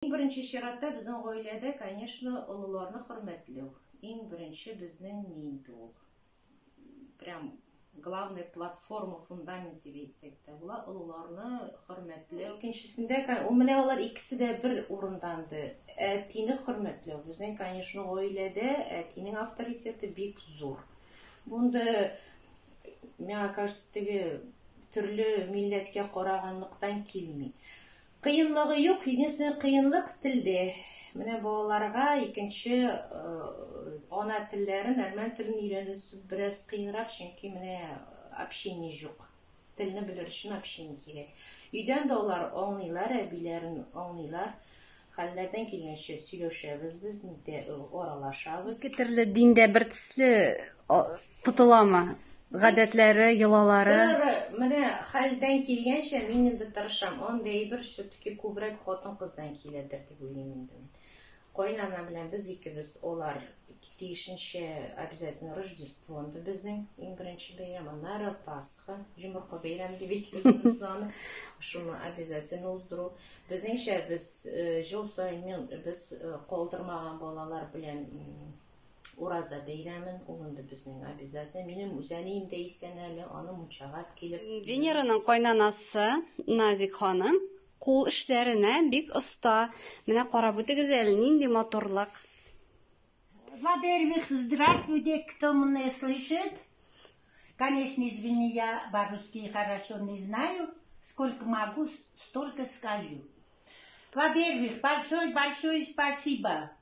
Иң беренче чиратта безнең гаиләдә, конечно, олыларны хөрмәтләү, иң беренче безнең ни инде ул, прям главный платформа, фундамент дип әйтсәк тә була, олыларны хөрмәтләү. Икенчесендә, ул менә алар икесе дә бер урында инде, әтине хөрмәтләү. Безнең, конечно, гаиләдә әтинең авторитеты бик зур. Бу инде, миңа кажется, теге төрле милләткә караганлыктан килми. Кыенлыгы юк, единственный кыенлык телде. Менә балаларга икенче ана телләрен, әрмән телен өйрәнү бераз кыенрак, чөнки менә общение юк. Телне белер өчен общение кирәк. Өйдән дә алар аңлыйлар, әбиләрен аңлыйлар. Хәлләрдән килгәнчә сөйләшәбез без, нитә аралашабыз. Ике төрле диндә бертөсле Тотыламы? Гадәтләре, йолалары. Менә хәлдән килгәнчә мин инде тырышам. Андый әйбер все-таки күбрәк хатын-кыздан киләдер дип уйлыйм инде мин. Кайнана белән без икебез алар тиешенчә обязательно Рождество инде безнең иң беренче бәйрәм, аннары Пасха, җомырка бәйрәм дип әйтәбез аны. Шуны обязательно уздыру. Безнеңчә без җил саен без калдырмаган балалар белән Ураза бәйрәмен, ул инде безнең обязательно. Минем үзәнием дә исән әле, аны мунчагап килеп. Венераның кайнанасы Назик ханым кул эшләренә бик оста. Менә карап үтегез әле, нинди матурлык. Во-первых, здравствуйте, кто меня слышит. Конечно, извини, я по-русски хорошо не знаю. Сколько могу, столько скажу. Во-первых, большое-большое спасибо.